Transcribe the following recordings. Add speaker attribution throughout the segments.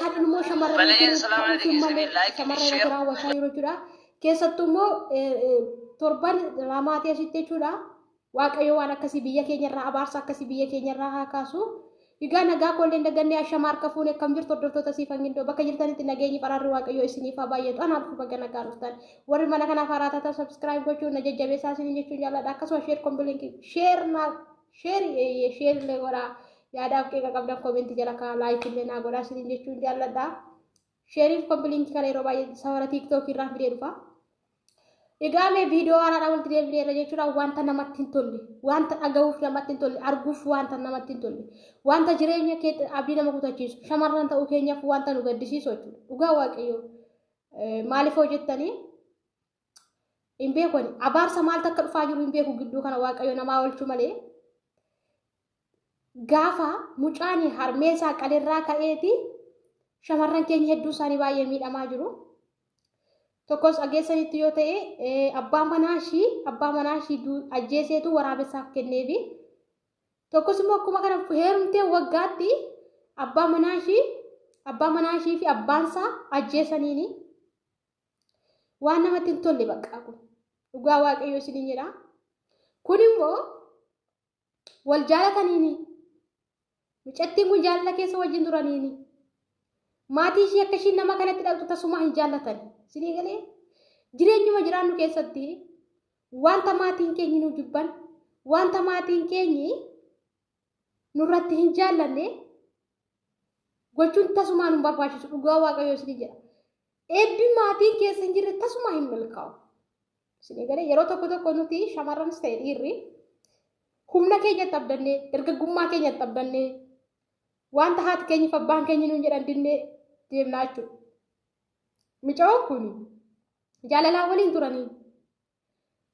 Speaker 1: Kan immoo shamarran Bala yeroo Islaama ta'uu dhaggeessanii malee like, shamarran share. biraa wasaa yeroo jechuudha. Keessattuu immoo eh, eh, torban ramaatii asitti jechuudha. Waaqayyo waan akkasii biyya keenya irraa abaarsa akkasii biyya keenya irraa haa kaasu. Egaa nagaa koollee hin dagannee ashama harka fuune akkam jirtu hordoftoota siif hangindoo bakka jirtanitti nageenyi baraarri waaqayyoo isiniif haa baay'atu anaaf baga nagaa dhuftan warri mana kanaaf haaraa taatan subscribe gochuun na jajjabeessaa isiniin jechuun jaalladha akkasuma share kombilinki share naaf Sheeri eeyyee sheeri illee godhaa. Yaadaaf qeeqa qabdan koomenti jala kaa laayikii illee naa godhaa isiniin jechuun jaalladha. Sheeriif kompilinki kana yeroo baay'ee sawara tiiktookii irraa fidee dhufa. Egaa mee viidiyoo haaraadhaan walitti deebinee irra jechuudha wanta namatti hin tolle wanta dhagahuuf namatti hin tolle arguuf wanta namatti hin tolle wanta jireenya kee abdii nama kutachiisu shamarran ta'uu keenyaaf wanta nu gaddisiisu jechuudha dhugaa waaqayyoo maaliif hojjettanii hin beeku ani abaarsa maaltu akka dhufaa jiru hin beeku gidduu kana waaqayyo namaa oolchu malee gaafa mucaan harmee isaa qalirraa ka'eeti shamarran keenya hedduu isaanii baay'ee miidhamaa jiru. Tokkos dhageessanitti yoo ta'e abbaa manaa ishii abbaa manaa ishii ajjeeseetu waraabessaaf kenneefi. Tokkos immoo akkuma kana heerumtee waggaatti abbaa manaa ishii abbaa manaa ishii fi abbaan isaa ajjeesaniini. Waan namatti hin tolle baqqaa kun. Dhugaa waaqayyoo isin hin jedhaa. Kun immoo wal jaalataniini. Mucattiin kun jaalala keessa wajjin turaniini. Maatii ishii akka ishiin nama kanatti dhaqxu tasumaa hin jaallatan. Isinii galee jireenyuma jiraannu keessatti wanta maatiin keenyi nu jibban wanta maatiin keenyi nurratti hin jaallanne gochuun tasumaa nu barbaachisu dhugaa waaqayyo isin jedha. Eebbi maatiin keessa hin jirre tasumaa hin milkaa'u. Isin eegale yeroo tokko tokko nuti shamarranis ta'e dhiirri humna keenya dhabdanne dargaggummaa keenya dhabdanne wanta haati keenyi fi abbaan keenyi nuun jedhan dinne deemnaa jechuudha. Micaa'oon kun jaalalaa waliin turanii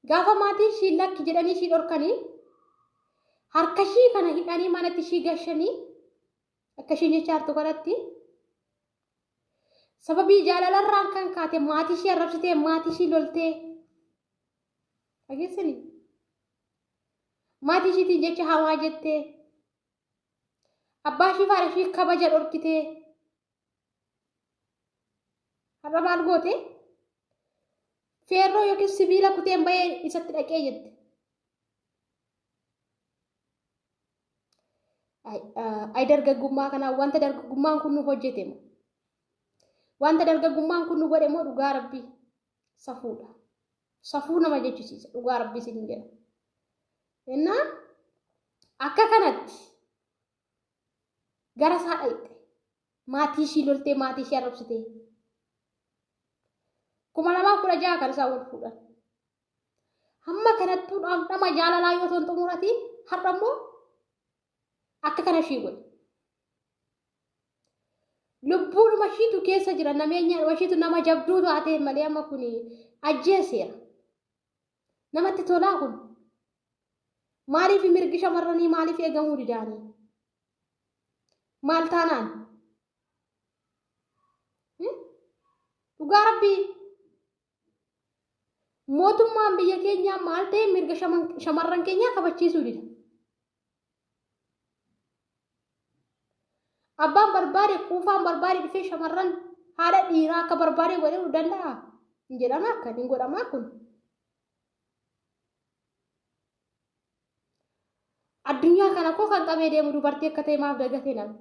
Speaker 1: Gaafa maatiin ishii lakki jedhanii ishii dhorkanii harka ishii kana hidhanii manatti ishii gashanii akka ishii nyachaartu kanatti sababii jaalalarraan kan kaate maatii ishii arrabsitee maatii ishii loltee dhageessanii maatii ishiitiin jecha hamaa jettee abbaa ishii faana ishii kabaja dhorkitee Har'a maal goote? Feerroo yookiin sibiila kuteen bahee isatti dhaqee jette. Ay dargaggummaa kanaa wanta dargaggummaan kun nu hojjete moo? Wanta dargaggummaan kun nu godhe moo dhugaa rabbii safuudha. Safuu nama jechisiisa dhugaa rabbii isin jedha. Innaa akka kanatti gara isaa dhayxe maatii ishii loltee maatii ishii arrabsitee kuma lamaa kudha jaha kan isaan wal fuudhan hamma kanattuu dhamdhama jaalalaa yoo ta'an xumurati har'a immoo akka kana ishii godhe lubbuudhuma ishiitu keessa jira nameenya ishiitu nama jabduu taatee malee amma kun ajjeeseera Namatti tolaa kun? Maaliif mirgi shamarranii maaliif eegamuu didaanii? Maal taanaan? Dhugaa rabbii mootummaan biyya keenyaa maal ta'e mirga shamarran keenyaa kabachiisuu dida. Abbaan barbaade quufaan barbaade dhufee shamarran haadha dhiiraa akka barbaade godhuu danda'a. Hin jedhama akka hin godhamaa kun. Addunyaa kana koo kan qabee deemu dubartii akka ta'e maaf dagatee nama.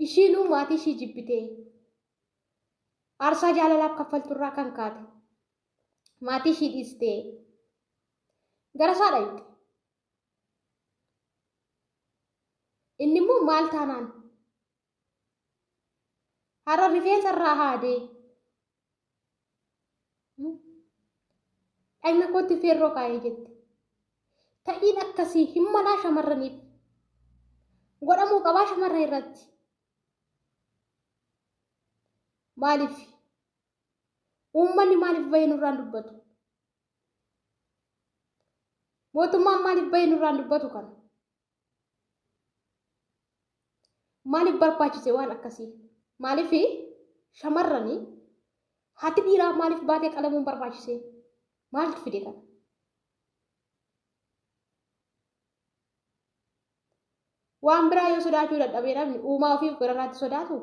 Speaker 1: Ishiinuu maatii ishii jibbitee aarsaa jaalalaaf kaffalturraa kan kaate. maatii ishii dhiistee gara isaa dhaqxe. Inni immoo maal taanaan har'a rifeensa irraa haadee dhagna kootti feerroo kaa'ee jette. Ta'iin akkasii hin malaa shamarraniif godhamuu qabaa shamarran irratti. Maaliif? Uummanni maaliif bahee nurraan dubbatu? Mootummaan maaliif bahee nurraan dubbatu kana? Maaliif barbaachise waan akkasii? Maaliif shamarranii haati dhiiraa maaliif baatee qalamuun barbaachise? Maaltu fide kana? Waan biraa yoo sodaachuu dadhabee namni uumaa ofiif gararraatti sodaatu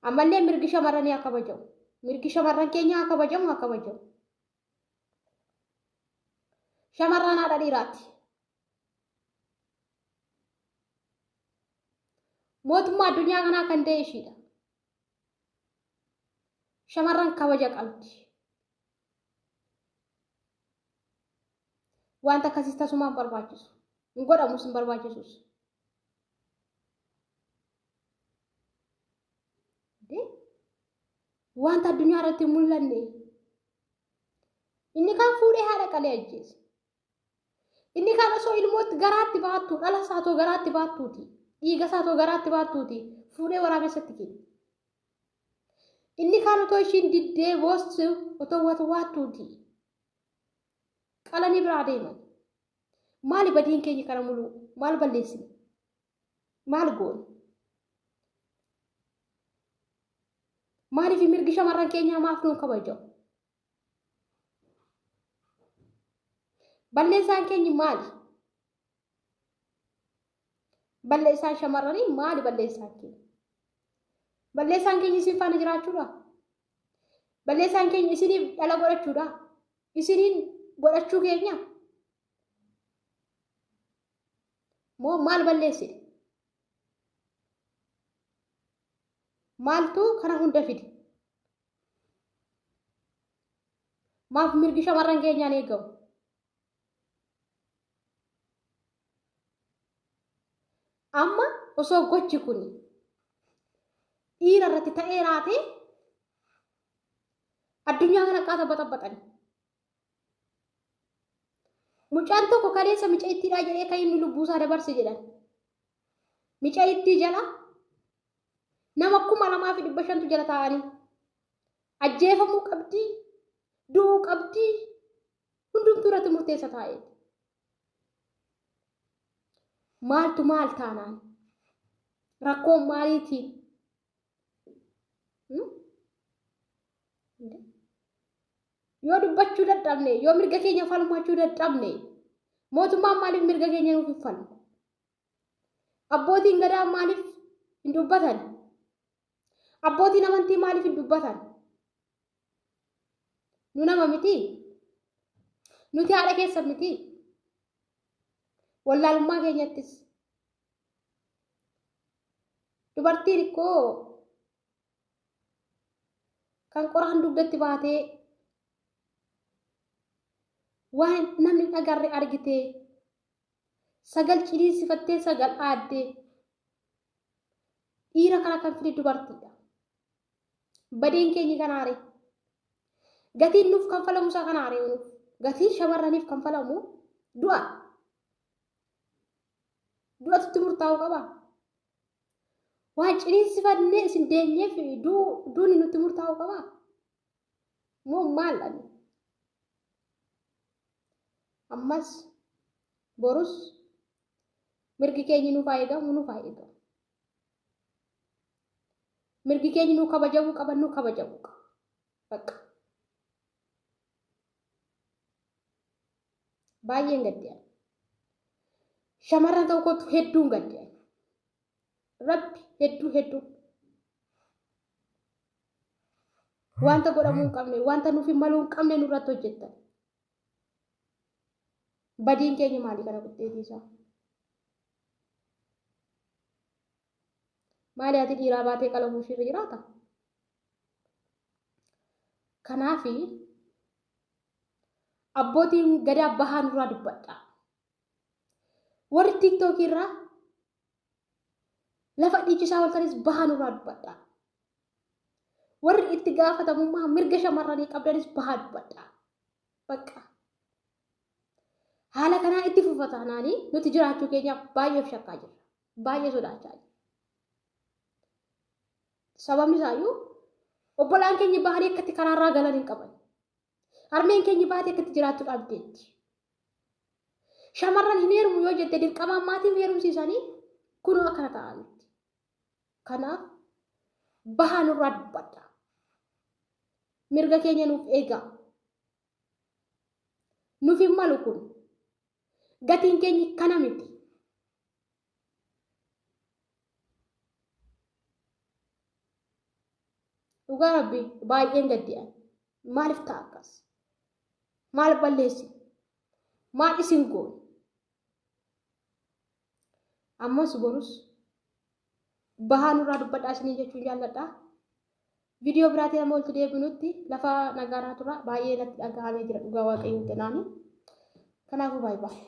Speaker 1: ammallee mirgi shamarranii haa kabajamu mirgi shamarran keenya haa kabajamu haa kabajamu shamarran haadha dhiiraati mootummaa addunyaa kanaa kan ta'e ishiidha shamarran kabaja qabdi wanta akkasiis tasumaan barbaachisu hin godhamus hin barbaachisus wanta addunyaa irratti hin mul'anne inni kaan fuudhee haadha qalee ajjeese inni kaan osoo ilmootti garaatti baattu dhala isaa too garaatti baattuuti dhiiga isaa too garaatti baattuuti fuudhee waraabessatti kenne inni kaan otoo ishiin diddee boossu otoo watwaattuuti qalanii biraa deeman Maali badiin keenya kana muluu? Maal balleessine? Maal goone? Maaliif mirgi shamarran keenyaa maaf nuun kabajamu? Balleessaan keenyi maali? Balleessaan shamarranii maali balleessaan keenya? Balleessaan keenya isin faana jiraachuudha? Balleessaan keenya isiniif dhala godhachuudha? isiniin godhachuu keenya moo maal balleessine maaltuu kana hunda fide maaf mirgi shamarran keenyaan eegamu amma osoo gochi kun dhiira irratti ta'ee raatee Addunyaa kana qaata baxabaxani. Mucaan tokko kaleessa mica ittiidhaa jedhee kan inni lubbuusaa dabarse jedhan. Mica ittii jala nama kuma lamaa fi dhibba shantu jala taa'anii ajjeefamuu qabdii du'uu qabdii hundumtuu irratti murteessa taa'ee. Maaltu maal taanaan rakkoon maaliitiin yoo dubbachuu dadhabne yoo mirga keenya falmachuu dadhabne mootummaan maaliif mirga keenya nuuf hin falmu abbootiin gadaa maaliif hin dubbatan abbootiin amantii maaliif hin dubbatan nu nama miti nuti haadha keessa miti wallaalummaa keenyattis dubartiin ikkoo kan qoraan dugdatti baatee waan namni dhagarre argite sagal ciniinsifattee sagal aadde dhiira kana kan fide dubartiidha badeen keenyi kanaare gatiin nuuf kan falamu isaa kanaare nuuf gatiin shamarraniif kan falamu du'a du'atutti murtaa'uu qaba. Waan ciniinsifannee isin deenyeef duuni nutti murtaa'uu qaba. Moo maal dhabne? Ammas borus mirgi keenyi nuuf haa eegamu nuuf haa eegamu. Mirgi keenyi nuu kabajamuu qaba nuu kabajamuu qaba. Bakka. Baay'een gadde ani. Shamarran ta'uu kootu hedduun gadde ani. Rabbi hedduu hedduu. Wanta godhamuu hin qabne, wanta nuuf hin maluu hin qabne nurratti hojjettan. Badiin keenya maali kana guddeetii isaa? Maali ati dhiiraa baatee qalamuu ishiirra jiraata? Kanaafi abbootiin gadaa bahaa nurraa dubbadha. Warri tiiktookii irraa lafa dhiichisaa waltanis bahaa nurraa dubbadha. Warri itti gaafatamummaa mirga shamarranii qabdanis bahaa dubbadha. Bakka. Haala kanaa itti fufataanaanii nuti jiraachuu keenyaaf baay'eef shakkaa jirra. baay'ee sodaachaa jira. Sababni isaayyuu obbolaan keenya bahanii akkatti karaarraa galan hin qaban. Harmeen keenya baatee akkatti jiraattu dhabdeetti. Shamarran hin heerumu yoo jette dirqamaan maatiin heerumsiisanii kunoo akkana ta'anitti. Kanaaf bahaa nurraa dubbadha. Mirga keenya nuuf eegaa. Nuuf hin malu kun. Gatiin keenya kana miti. dhugaa rabbi baay'een gaddi'an maaliif ta'a akkas maal balleessi maal isin goon ammas borus bahaa nurraa dubbadhaa isinii jechuun jaalladhaa viidiyoo biraatiin amma walitti deebinutti lafa nagaanaa tura baay'ee natti dhagahamee jira dhugaa waaqayyoo jedhaanii kanaafuu baay'ee baay'ee.